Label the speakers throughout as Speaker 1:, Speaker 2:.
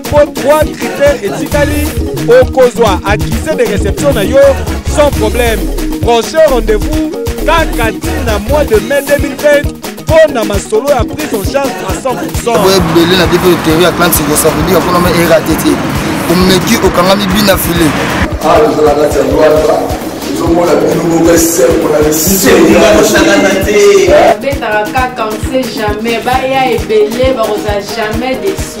Speaker 1: mpo 3 critères etikali okozwa accusé de réception na yo sans problème prochain rendez-vous kaka ntina mois de mai 2020 mpo na masolo ya prise en charge à 100 boye ebele na biso
Speaker 2: eteori ya clan siko ça veut dire mpona ma erate te omeki okangami bina file awa tozala
Speaker 3: kati ya lwata tozomona bino moko esembo na bisoosakana te babetaka
Speaker 4: kaka on sait jamais baya ebele bakozala jamais desi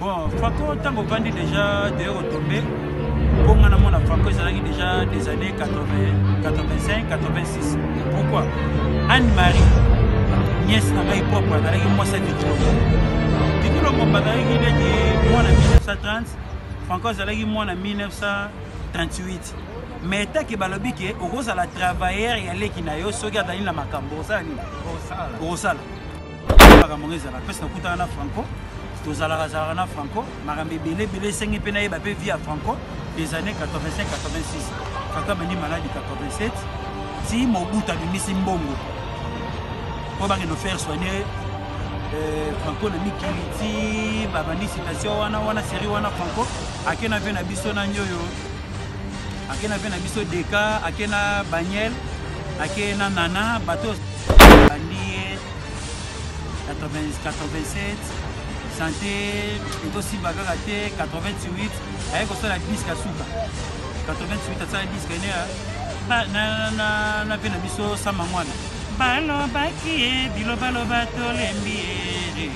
Speaker 5: Bon, Fako, tango vandi déjà de retomber, pour moi, mon Fako, ils allaient déjà des années 80, 85, 86. Pourquoi Anne-Marie, nièce n'a pas eu propre, elle allait moi cette vidéo. Du coup, le monde a dit, moi, en 1930, Franco, ils allaient moi en 1938. mais etaki balobi ke okozala travailleur ya leki na yo soki azali na makambo osala nini okosala makambo yango ezalaka mpesi nakutana na franco tozalaka zalaka na franco makambo ebele ebele esengi mpe nayeba mpe vie ya franco des années 85 86 franco abandi maladi 87 ti mobutu abimisi mbongo mpo bakende faire soigne euh, franco na mikili ti babandi situation wana wana série wana franco ake na vie na biso na nioyo akena mpe na biso deka ake na baniel ake na nana bato bandi ye 87 sante ekosimba kaka te 88 aye kosala diske ya suka 88 asala diske ene na mpe na biso sama mwana balobaki ye bilobaloba tolembi ye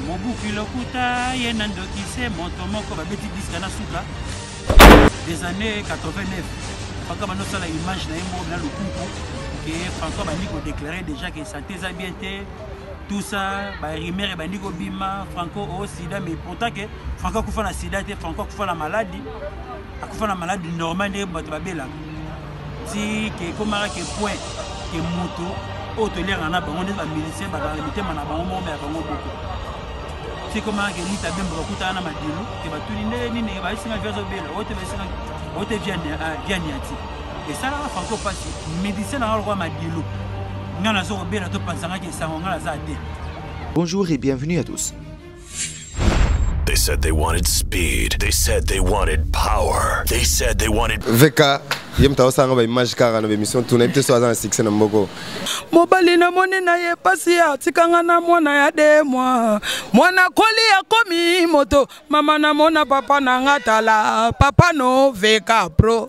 Speaker 5: mobuki lokuta ye na ndokise moto moko babeti diske na suka des années 89 franco abandi osala image na ye moko na lokuku ke franco abandi kodeklare déjà ke sante eza bien te tout ça barimer ebandi kobima franco o oh, sida mais pourtant ke franco akufa na sida te franco akufa na maladi akufa na maladi normal nde bato babelaka ti ke ekomaka ke point ke moto oyo toliaka na bango neti bamilisien bazala mitema na bango moko ya bango moko ti ekomaka ke lita bembo bakutana na madilu ke batuni ndenge nini bayesinga via zobela oyo te bayesinga oyo te via ah, niati esalaka franco mpasi medicien nanga lokola madilu ngai nazo kobela topanzangaki esango ngai naza te bonjour
Speaker 6: et bienvenue à tous
Speaker 7: They said they wanted speed. They said they wanted power. They said they wanted Veka ye
Speaker 2: moto aosanga ba image kaka na bemission tuna ye te so aza na succès na mboko mobali
Speaker 8: namoni na ye mpasi atikanga na mwana ya de mwa mwana koli akomi moto mama namona papa na nga tala papa no veka pro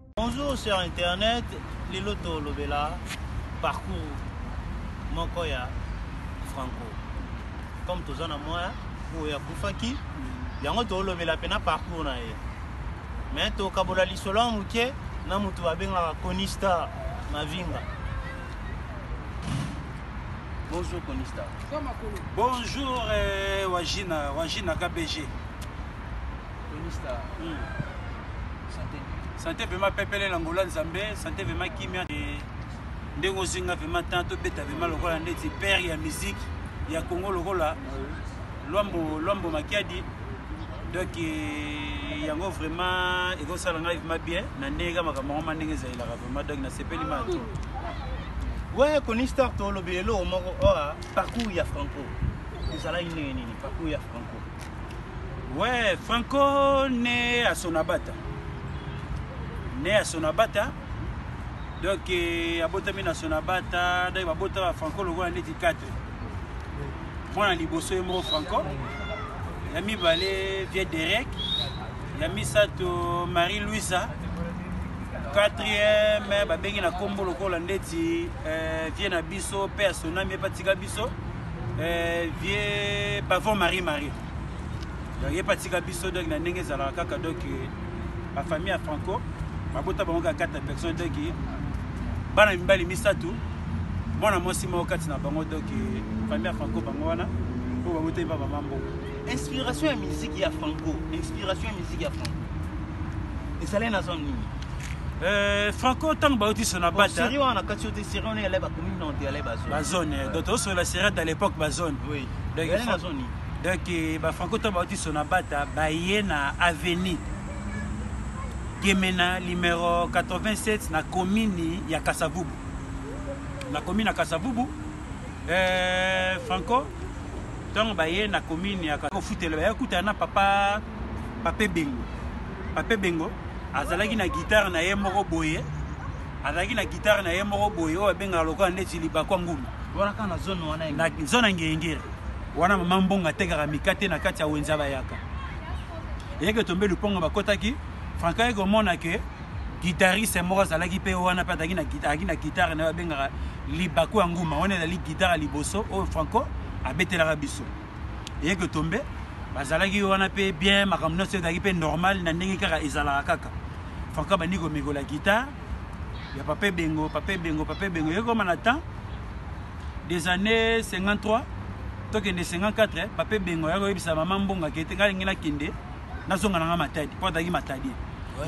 Speaker 5: Bonjour cher internet, lelo tolobela parcours moko ya Franco. Comme toza na moya oyo akufaki, yango tolobela pe na parcours na ye. Mais tokabola lisolo ya moke na moto babengaka Conista Mavinga. Bonjour Conista. Bonjour euh, Wajina, Wajina KBG.
Speaker 9: Ministre.
Speaker 5: Santé. Santé vraiment pepele na ngola nzambe, santé vraiment kimia et ndenge ozinga vraiment temps tobeta vraiment lokola ndeti père ya musique ya Congo lokola Lwambo Lwambo Makiadi donc eh, yango vraiment ekosala ngai vraiment bien na ndenge kaka makambo yango ma ndenge ezalelaka vraiment donc nasepeli ma to
Speaker 9: we conistar tolobi eloko moko oa oh, ah, parcours ya franco ezalaki ndenge nini parcours ya franco Ouais,
Speaker 5: Franco né à Sonabata. Né à Sonabata. Donc, euh, abotami na Sonabata, donc babota ba Franco lokola neti 4. Mwana liboso ye moko Franco. Ya mibale Vieux Derek. Ya misato Marie Louisa. Quatrième babengi na kombo lokola ndeti euh, Vieux na biso pe asonami epatika biso. eh, vieux pavon marie marie donc ye patika biso donc na ndenge ezalaka kaka donc bafamille ya franco babota bango kaka kati na personne donc bana mibali misato mwana mwasi moko kati na bango donc famille ya franco bango wana oyo babotami ba mama mbongo inspiration ya
Speaker 9: miziki ya franco inspiration ya miziki ya franco ezalai na zone nini Eh, franco
Speaker 5: ntango bauti sona bataserie wana na kati yo te
Speaker 9: serie wana yale bakomi nonte yale bazone bazone eh, donc tozosola
Speaker 5: serie ata l'époque bazone
Speaker 9: donc eh, bafranco
Speaker 5: ntango bauti sona bata baye na avenue gemena numero 87 na komini ya kasavubu na komini ya kasavubu eh, franco ntango baye na komini ya kofutela baye kutana na papa Papa Ebengo. Papa Ebengo azalaki na guitare na ye moko boye azalaki na guitare na ye moko boye oyo abengaka lokola ndeti libakwa ngulu
Speaker 9: zona ngengere
Speaker 5: wana mama mbongo atekaka mikate na kati ya wenza bayaka eyeke tombe lupongo bakotaki franka ye komona ke guitariste moko azalaki mpe wana mpe azalaki na guitare na ye babengaka libaku ya nguma wana ezali guitare ya liboso oyo franco abetelaka biso eye que tombe bazalaki wana mpe bien makambo nyonso ezalaki mpe normal na ndenge kaka ezalaka kaka franka bandi komekola guitare ya pape bengo pape bengo pape bengo ekoma na temps des années 53 tokende 54 pape bengo ya koyebisa mama mbonga kete ngai lingi nakende nazonga na ngai matadi mpo azalaki matadi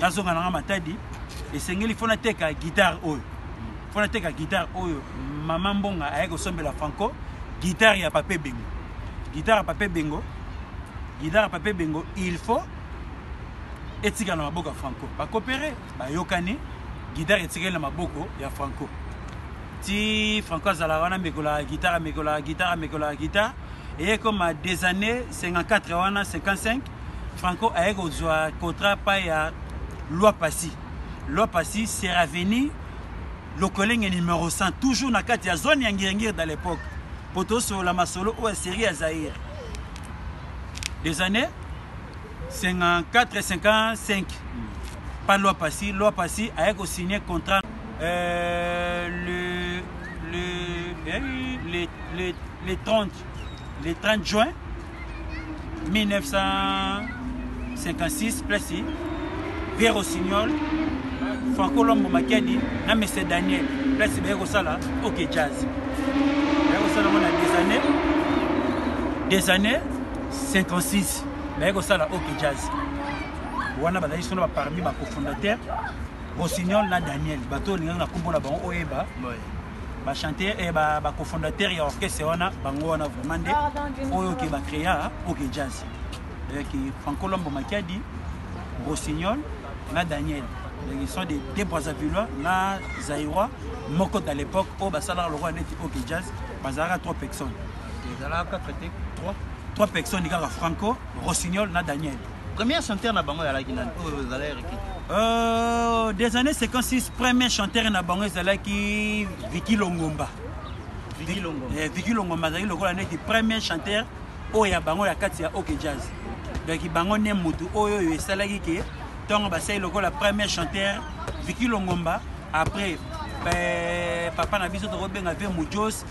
Speaker 5: nazonga na ngai matadi esengeli fo nateka guitare oyo mpo nateka guitare oyo mama mbonga ayaki kosombela franco guitare ya pape bengo guitare ya pape bengo guitare ya pape bengo il faut etikala na maboko ya franco bakopere bayokani guitare etikali na maboko ya franco ti franco azalaka wana amekolaka guitare amekolaka guitare amekolaka guitare eye koma des années 54 wana 55 franco aye kozwa contrat pa ya loi pasi loi pasi seraveni Lokelenge numero 100 toujours na kati ya zone ya Ngiringiri dans l'époque mpo tosolola masolo oyo ya serie ya Zaire des années 54 et 55 pa loi pasi loi pasi aye kosigne contrat euh, le, le, eh, le, le, le 30 le 30 juin 1956 place pierre osignol franco lombo makiadi na mese daniel place baye kosala ok jazz baye kosala ngo na des années des années 56 baye kosala ok jazz wana bazalaki solo baparmi bacofondateur rossignol na daniel bato olingaki na nkombo na bango oyeba ba chanteur et eh, ba ba cofondateur ya orchestre wana bango wana vraiment nde oyo ke ba créa OK jazz avec eh, Franco Lombo Makiadi Rossignol na Daniel donc ils sont des des Brazzavillois na Zaïrois moko à l'époque au basala le roi neti OK jazz bazalaka trois personnes ezalaka
Speaker 9: traité trois trois
Speaker 5: personnes kaka Franco Rossignol na Daniel Premier chanteur na
Speaker 9: bango ezalaki nani oyo
Speaker 5: ezalaki Ricky euh, des années 56 premier chanteur na bango ezalaki Vicky Longomba Vicky Longomba eh, Vicky Longomba azalaki lokola neti premier chanteur oyo ya bango ya kati ya OK Jazz donc bango ne motu oyo oyo esalaki ke ntongo basali lokola premier chanteur Vicky Longomba après eh, papa na biso tokobenga ve Mujos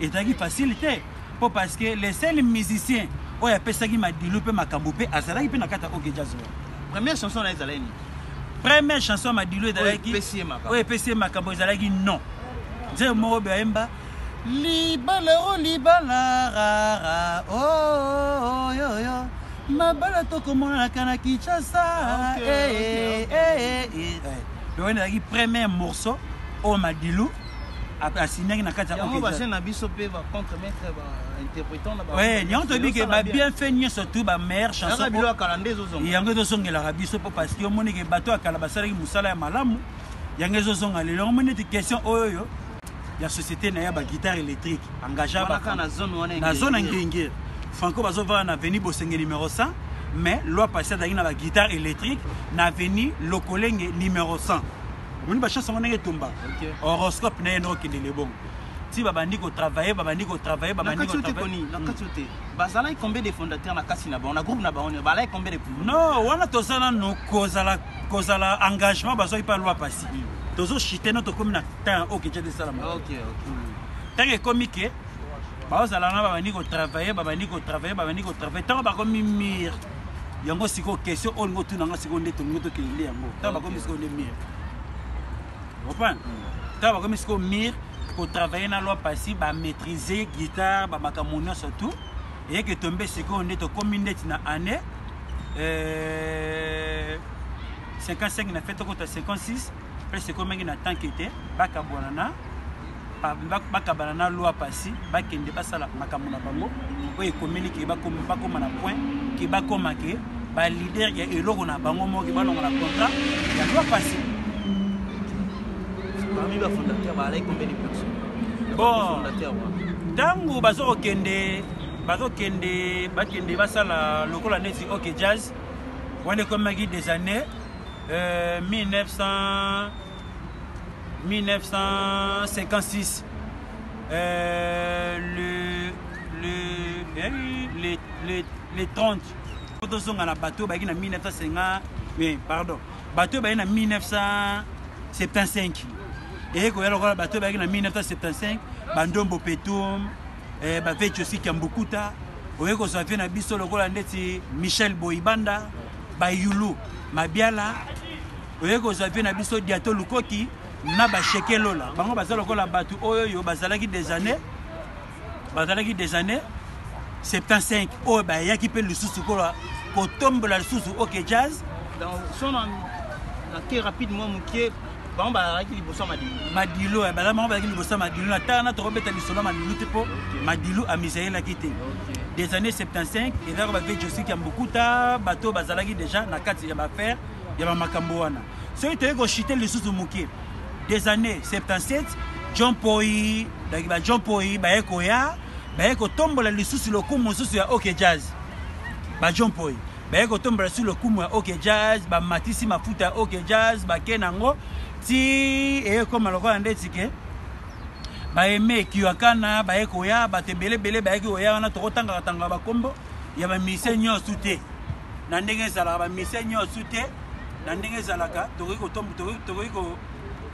Speaker 5: Ezalaki facile te po parce que le seul musicien oyo apesaki madilu pe makambo pe azalaki pe na kati ya OK Jazz. Première chanson na
Speaker 9: ezalaki nini? Première chanson
Speaker 5: ya madilu ezalaki oyo epesi ye makambo ezalaki non. Nzembo moko bayemba libala o oh, libala rara oyo oh, oh, yo yo mabala tokomonanaka na kinshasa loyena ezalaki premier morceau oyo madilu asignaki na kati yango bajeune na biso mpe bacontre
Speaker 9: maître bainterprétant na yango toyebi ke
Speaker 5: babien fait nyonso tout bameilleure chansonyango
Speaker 9: ezozongelaka biso
Speaker 5: mpo parce que omoni ke bato ya kala basalaki mosala ya malamu yango ezozonga lelo yango omoni ete question oyo oyo ya société na ye ya baguitare électrique engagea na zone
Speaker 9: ya ngengere
Speaker 5: franco bazovanda na veni bosenge numéro 100 mais loi passé azalaki na baguitare électrique na veni lokolenge numéro 100 omoni bachance yango ndenge etumba horoscope na ye nde okende lebongo ti babandi kotravaille babandi kotravaille babandi kotravaillenakati
Speaker 9: te hmm. bazalaki combien de fondateur na kati na bango na groupe na bango nio balaki combien de non wana toza
Speaker 5: nano kozala kozala engagement bazwaki mpa lwa pasi hmm. tozoshite no tokómi na temps oyo keja desalama
Speaker 9: ntango hmm.
Speaker 5: ekomi ke baozala na babandi kotravaille babandi kotravaille babandi kotravaille ntango bakomi mire yango sikoyo question oyo olingi otuna nga sikoyo nde tolingi tokende nde yango ntango bakomi sikoyo nde mire comprendre ntango bakomi sikoyo mire kotravaille na loi pasi bamaîtrise guitare bamakambo nyonso tout eyeke tombe sikoyo nde tokomi ndeti na année 55 euh, na fete okota 56 place ekomaki na tanke ete bakabwana na bakabana na loi pasi bakende basala makambo na bango oyo ekomeli ke bakoma na point ke bakoma ke balider ya eloko na bango moke balonga na contrat ya loi pasi
Speaker 9: parmi bafondateur baalaki combien de personnes bon
Speaker 5: ntango bazokokende bazokende bakende basala lokola neti ok jazz wana ekomaki des années Euh, 1900 1956 euh, le le eh, le le le 30 po tozonga na bato oyo bayaki na 1950 mais pardon bato oyo bayaki na 1975 eye koya lokola bato oyo bayaki na 1975 bandombo petum eh, baveci osi kiambukuta oye kozwa vie na biso lokola ndeti michel boibanda Bayulu, Mabiala, oye kozwa vie na biso Diato Lukoki na ba Sheke Lola. Bango baza lokola batu oyo yo bazalaki des années bazalaki des années 75 oyo bayaki mpe lisusu kola kotombola lisusu ok jazz. Donc son
Speaker 9: na très rapide moi mokie bango bazalaki liboso ya madilu madilu eh, baza
Speaker 5: bango bazalaki liboso ya madilu na tala na tokobeta lisolo ya madilu te mpo madilu amisaelaki te des années 75 ezalaka bave josik ya mbukuta bato bazalaki déjà na kati ya baaffaire ya bamakambo wana soki toyei koshite lisusu moke des années 77 john poi donc ba john poi baye koya baye kotombola lisusu lokumu mosusu ya ok jazz ba john poi baye kotombela su lokumu ya ok jazz bamatisi mafuta ya ok jazz bake na yango ti eye ekoma lokola nde tike baeme kiwakana baye koya bato ebele ebele bayaki koya wana tokotangaka tangaka bakombo ya bamise nyonso te na ndenge ezalaka bamise nyonso te na ndenge ezalaka tokoki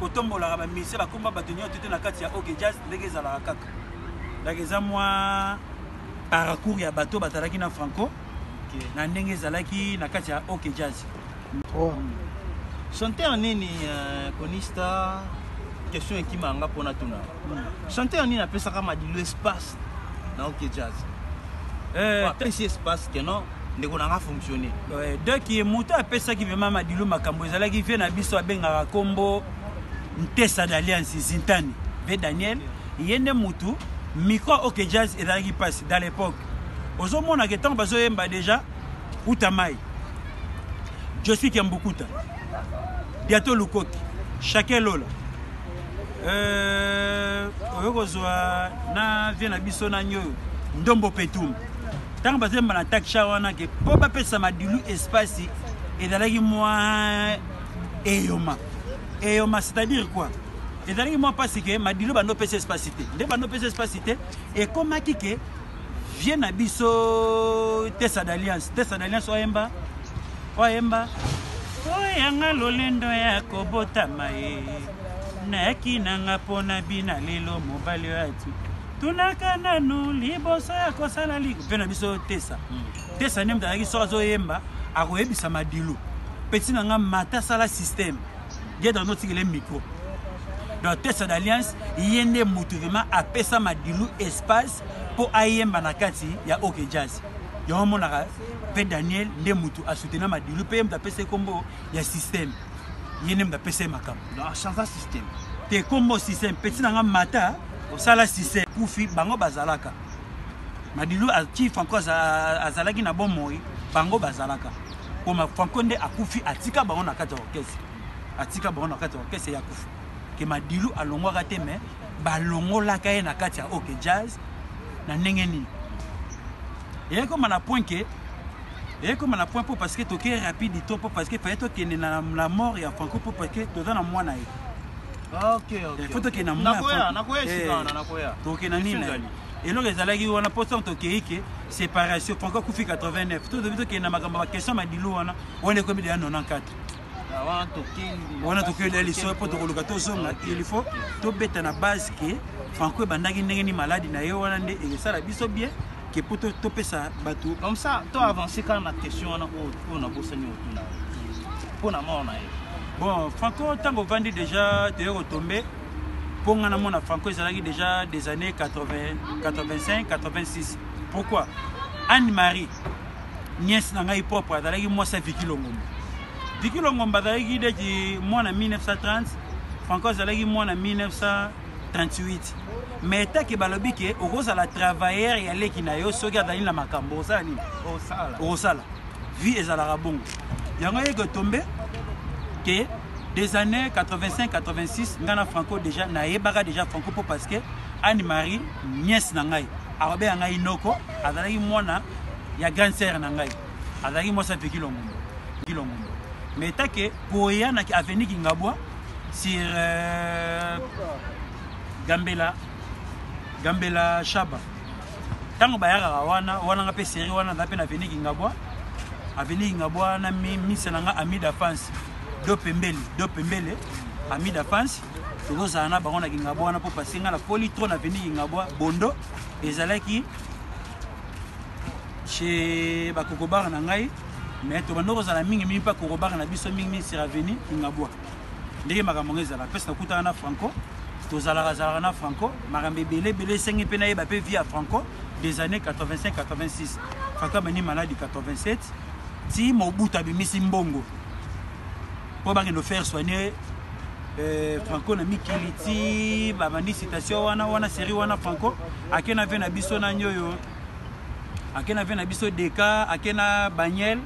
Speaker 5: kotombolaka bamise bakomba bato nyonso te na kati ya ok jazz ndenge ezalaka kaka donc eza mwa paracours ya bato batalaki na franco okay. na ndenge ezalaki na kati ya ok jazz oh.
Speaker 9: chanteur nini uh, conista question ekima yanga mpona tuna mm. chanteur nini apesaka madilu espace na ok jazz eh, apesi espace ke non ndeko nanga fonctionne ouais, donc ye moto
Speaker 5: apesaki vraimen madilu makambo ezalaki vie na biso abengaka nkombo ntesa d'alliance zintani ve daniel Ye nde mutu micro ok jazz ezalaki pasi dans l'epoque ozo mona ke tango bazo yemba dejà uta mai Josi Kiambukuta biato lukoki chacun lola euh, oyo kozwa na vie na biso na nyoyo ndombo petum ntango bazemba na taksha wana ke mpo bapesa madilu espasi ezalaki mwa eyoma Eyoma c'est à dire quoi? Ezalaki mwa pasi ke Madilo bando pesa espace te. Nde bando pesa espace te ekomaki ke vieux na biso Tessa d'Alliance, Tessa d'Alliance oyemba oyemba oyanga lolendo ya kobotama ye nayaki nanga mpo na bina lelo mobali oyo ati tunaka nanu liboso ya kosala liko mpe na biso tesa mm. te sani moto ayaki soki azoyemba akoyebisa madilu peti na ngai mata asala systeme gedra notikele micro donc tesa d'alliance ye nde motu vraimen apesa madilu espace mpo ayemba na kati ya oke jazz yango omonaka mpe daniel nde motu asutena madilu mpe ye moto apesa ekombo ya systeme ye nde moto apesa ye makambo chanza systeme
Speaker 9: te kombo
Speaker 5: systeme peti na ngai mata osala systeme kufi bango bazalaka Madilu ti Franco azalaki na bomoi bango bazalaka poma Franco nde akufi atika bango na kati ya orchestre atika bango na kati ya orchestre ya kufa ke Madilu alongwaka te mais balongolaka ye na kati ya OK Jazz na ndenge nini eyaki koma na point ke eyaki koma na point mpo parce que tokei rapide to mpo parce que faye tokende na la mort ya Franco mpo parce que toza na mwana ye
Speaker 9: Eh, fo tokende na
Speaker 5: motokende eh, nini eloko ezalaki wana mpo ntango tokei ke séparation franco akufi 89 tozobi tokende na makambo ya baquestion madilu wana wana ekomi deya 94 ah, wana tokei deya lisolo mpo tokoluka tozonga ah, il faut tobeta na base ke franco ebandaki ndenge ni maladi na ye wana nde ekosala biso bien ke mpo topesa bato comme ça to avance
Speaker 9: kaka na question wana oyo nabosani otuna mpo na mor na ye Bon, Franco,
Speaker 5: tango vandi déjà te retomber. Pour nga na mona Franco ezalaki déjà des années 80, 85, 86. Pourquoi? Anne-Marie, nièce na ngai propre, azalaki mwasi ya Vicky Longomba. Vicky Longomba azalaki deki mwana 1930, Franco azalaki mwana 1938. Mais etaki balobi ke okozala travailleur ya leki na yo soki azali na makambo osala nini? Osala. Osala. vie ezalaka bongo yango yeke tombe ke des années 85 86 ngai na franco déjà nayebaka déjà franco mpo parce que anne marie nièce na ngai akobenga ngai noko azalaki mwana ya grande sere na ngai azalaki mwasi apeki longombo ki longombo mais etake koya na avenue kingabwa sur euh, gambela gambela shaba tango bayakaka wana wana nga pe serie wana naza pe na veni kingabwa aveni kingabwa na misa na nga amida fans do pembele do pembele amida fans tokozala na bango na kingabwa wana mpo pase nga na poli tro na veni kingabwa bondo ezalaki chez bakokobare na ngai mais tobanda kozala mingi mingi mpe akokobare na biso mingi mingi seraveni kingabwa ndenge makambo yango ezalaka mpesi nakutana na franco tozalaka zalaka na franco makambo ebele ebele esengi mpe nayeba mpe vie ya franco des années 85 86 franco amani maladi 87 ti mobutu abimisi mbongo mpo bakende faire soigner euh, franco na mikili ti babandi citation wana wana série wana franco ake na vie na biso nani oyo ake na vie na biso deka ake na baniel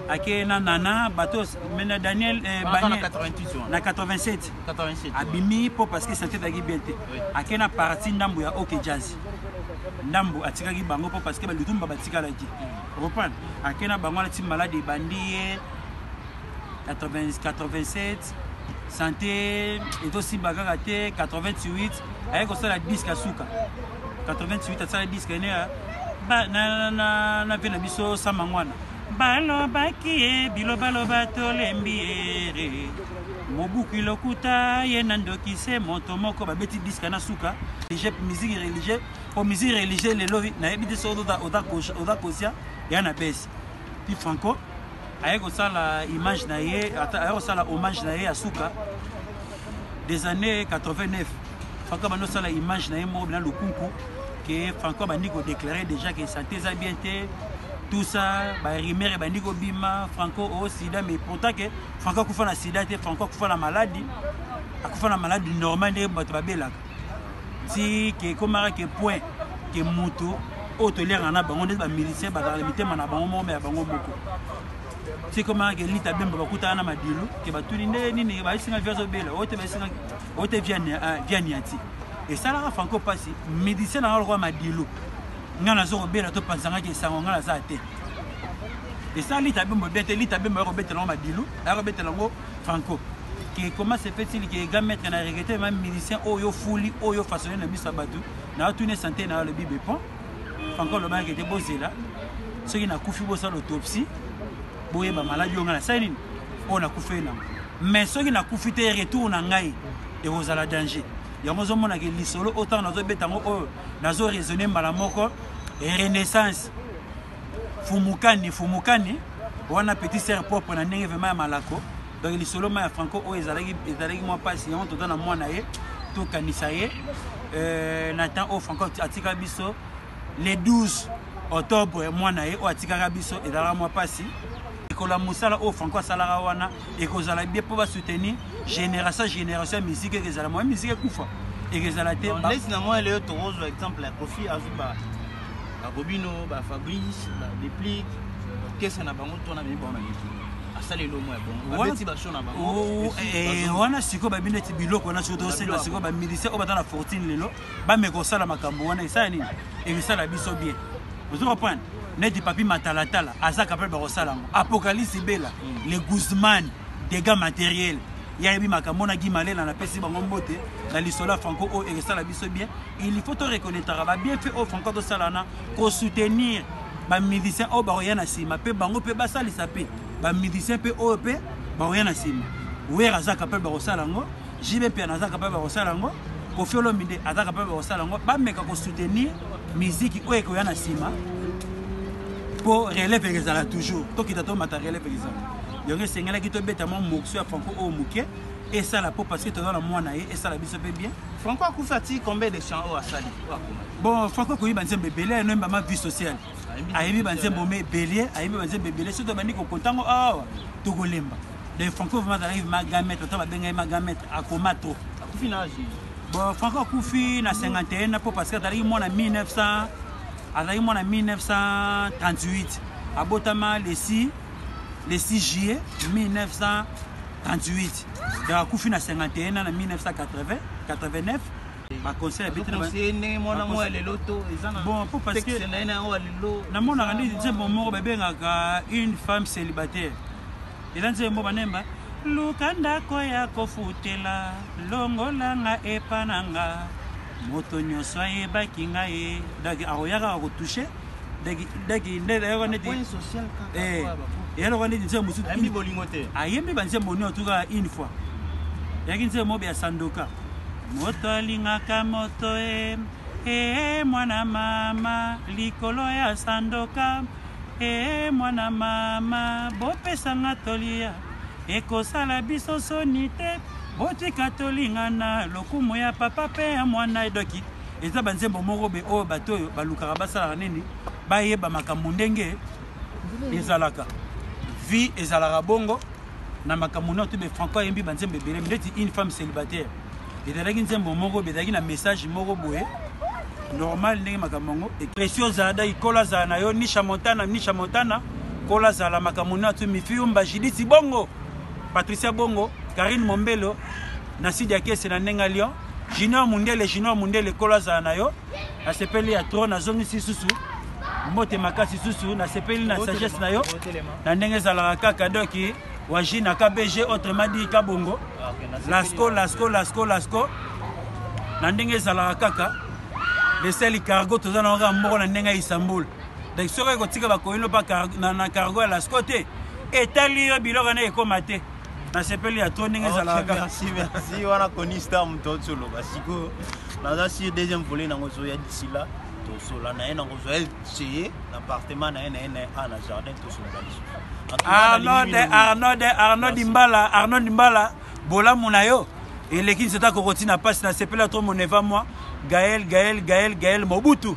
Speaker 5: ake na nana bato mais na daniel eh, Wana Baniel- na 88 wana. na 87 87 abimi mpo parce que sante ezalaki bien te Oui. ake na parati ndambo ya ok jazz ndambo atikaki bango mpo parce que balutumba batikalaki reprendre ake na bango alati malade ebandi ye 87 sante ezosimba kaka te 88 aye kosala diske ya suka 88 asala diske ene na mpe na biso sama ngwana balobaki ye bilobaloba tolembi ere mobuki lokuta ye na ndoki se moto moko babeti diska na suka religieux musique religieux po musique religieux lelo nayebi te soki oza kosia ya na besi ti franco aye kosala image na ye aye kosala hommage na ye ya suka des années 89 franco abandi osala image na ye moko bina lukunku ke franco abandi kodeklare déjà ke sante eza bien te tout ça barimer ebandi kobima franco o oh, sida mais pourtant ke franco akufa na sida te franco akufa na maladi akufa na maladi normal nde bato babelaka ti ke ekomaka ke point ke moto oyo toliaka na bango ndeti bamilisien bazala na mitema na bango moko me ya bango moko ti ekomaka ke lita bemba bakutaka na madilu ke batuni nde nini baesinga via azobela oyo te baesinga oyo te via ah, niati esalaka franco mpasi midisien nanga lokola madilu ngai nazo kobela to panzangaki esango ngai naza te esala lita bemba bia te lita bemba ya kobetela yango madilu ya kobetela yango Franco ke comment se fait-il que ga mettre na regretter même musicien oyo fuli oyo façonné na miso batu na tune santé na le bibe pont Franco loba ke te bozela soki na kufi bosala autopsie boye ba maladie ngana sala nini oyo na kufi na mais soki na kufi te retour na ngai et vous allez danger yango ozomona ke lisolo oyo ntango nazobeta yango oyo nazo raisonne mbala moko renaissance fumukani fumukani wana petit sœur propre na ndenge vraiment ya malako donc lisolo ma ya franco oyo ezalaki ezalaki mwa mpasi yango toza na mwana ye tokanisa ye euh, na temps oyo franco atika biso le 12 octobre mwana ye oyo atikaka biso ezalaka mwa mpasi likolo ya mosala oyo franco asalaka wana ekozala bie mpo basoutenir génération génération ya miziki eke ezala moya miziki ekufa eke ezala te lesi na moi leo
Speaker 9: tokozwa exemple ya kofi azuba bakobino ba fabrice ba deplic kesa na bango tona memi bango na miki asala elongo ya bongo babeti basho na bango oh, eh, eh, wana
Speaker 5: sikoyo babi neti biloko wana soki tosenga sikoyo bamilise oyo baza na fortune lelo bameka kosala makambo wana esala nini ekosala biso bien ozo comprendre neti papi matalatala aza capable bakosala yango apocalypse bela mm. le guzman dégâts matériel ye ayebi makambo na Guy Malela napesi bango mbote na lisolo ya Franco oyo ekosala biso bien il faut to reconnaîtraka ba bienfait oyo Franco azosala wana ko soutenir ba musiciens oyo bakoya na nsima mpe bango mpe basalisa mpe ba musiciens mpe oyo mpe bakoya na nsima wer aza capable bakosala yango jb mpiana aza capable bakosala yango kofi olombi nde aza capable bakosala yango bameka ko soutenir miziki oyo ekoya na nsima mpo relève ekezala toujours tokita tomata relève ekezala yango esengelaki tobeta mwa mokso ya franco oyo moke esala mpo parce que toza na mwana ye esala biso mpe bien franco akufi ati
Speaker 9: combien de chant oyo asali bon franco
Speaker 5: akoyi banzembo ebele ayeno embama vie sociale ayebi banzembo me ebele ayebi banzembo ebele soki tobandi kokotango awa tokolemba donc franco vraimen azalaki magametre ata babengai magametre akoma trop akufi na age bon franco akufi na 51 na mpo parce que azalaki mwana 1900 azalaki mwana 1938 abotama lesi le 6 juillet 1938 donc akufi na 51 ans na 1980 89 baconseil abetibonpo parce que namonaka nde nzembo moko babengaka une femme célibataire eza nzembo moko banemba luka ndako ya kofutela longola nga epa na nga moto nyonso ayebaki nga ye donc akoya kaka kotouche daki nde nayoka neti eyaloka neti nzembo mosusu ayembi bolingo te ayembi banzembo nio tuka une fois yaki nzembo mobe ya sandoka moto alingaka moto e ee mwana mama likolo ya sandoka ee mwana mama bopesanga tolia ekosala biso soni te botika tolingana lokumu ya papa mpe ya mwana edoki Eza ba nzembo moko be oyo bato oyo balukaka basalaka nini bayeba makambo ndenge ezalaka vie ezalaka bongo na makambo nioto be franco ayembi ba nzembo ebele ndeti une femme célibataire ezalaki nzembo moko be ezalaki na message moko boye normal ndenge makambo yango epresio ozala dai kola zala na yo nisha montana nisha montana kola zala makambo nioto mifiumba jidisi bongo patricia bongo karine mombelo na sidi ya kese na ndenge ya lion junior mundele junior mundele kolo azala na yo nasepeli ya tro nazongisi susu mbote makasi susu nasepeli na sagesse na yo na ndenge ezalaka kaka doki waji na kbg autrement dit kabongo ah, lasco lasco lasco lasco na ndenge ezalaka kaka leseli cargo toza na kaka moko na ndenge ya istanbul donc soki ekotika bakoyino mpa na cargo ya lasco te etali yo biloko na ekoma te nasepeli ya to ndenge ezalaka kaka merci wana
Speaker 9: conista moto otoloba sikoyo naza sur deuxième volet nango ezoya d'ici là tosola na ye nango ozwa ye ceye na appartement na ye na ye na ye a na jardin tosolola lisusu arnold arnold
Speaker 5: arnold imbala arnold imbala bolamu na yo eleki nzeta kokoti na mpasi nasepela to moneva mwa gael gael gael gael mobutu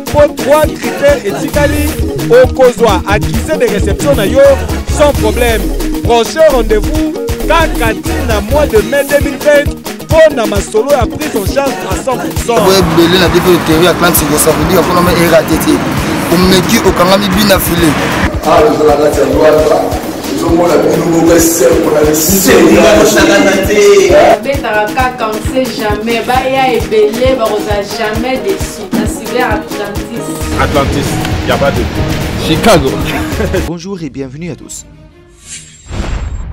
Speaker 1: mpo 3 critères etikali okozwa accusé de réception na yo sans problème prochain rendez-vous kaka ntina mois de mai 2020 mpo na masolo ya prise en charge à 100 boye ebele na biso
Speaker 2: eteri ya clan siko ça veut dire mpona ma erate te omeki okangami bina file awa tozala
Speaker 3: kati ya lwata ezomona bino moko esembo
Speaker 4: na lisebetaka kaka on sait jamais baya ebele bakozala jamais desi Atlantis,
Speaker 10: il a pas de Chicago. Bonjour
Speaker 6: et bienvenue à tous.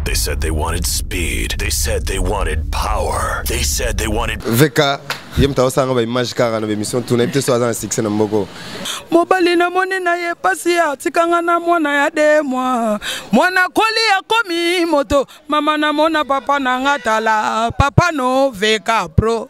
Speaker 7: They said they wanted speed. They said they wanted power. They said they wanted Veka ye
Speaker 11: moto aosanga baimage kaka na baémission tuna ye te so aza na succès na mboko mobali
Speaker 8: namoni na ye mpasi atikanga na mwana ya de mwa mwana koli akomi moto mama namona papa na nga tala papa no veka pro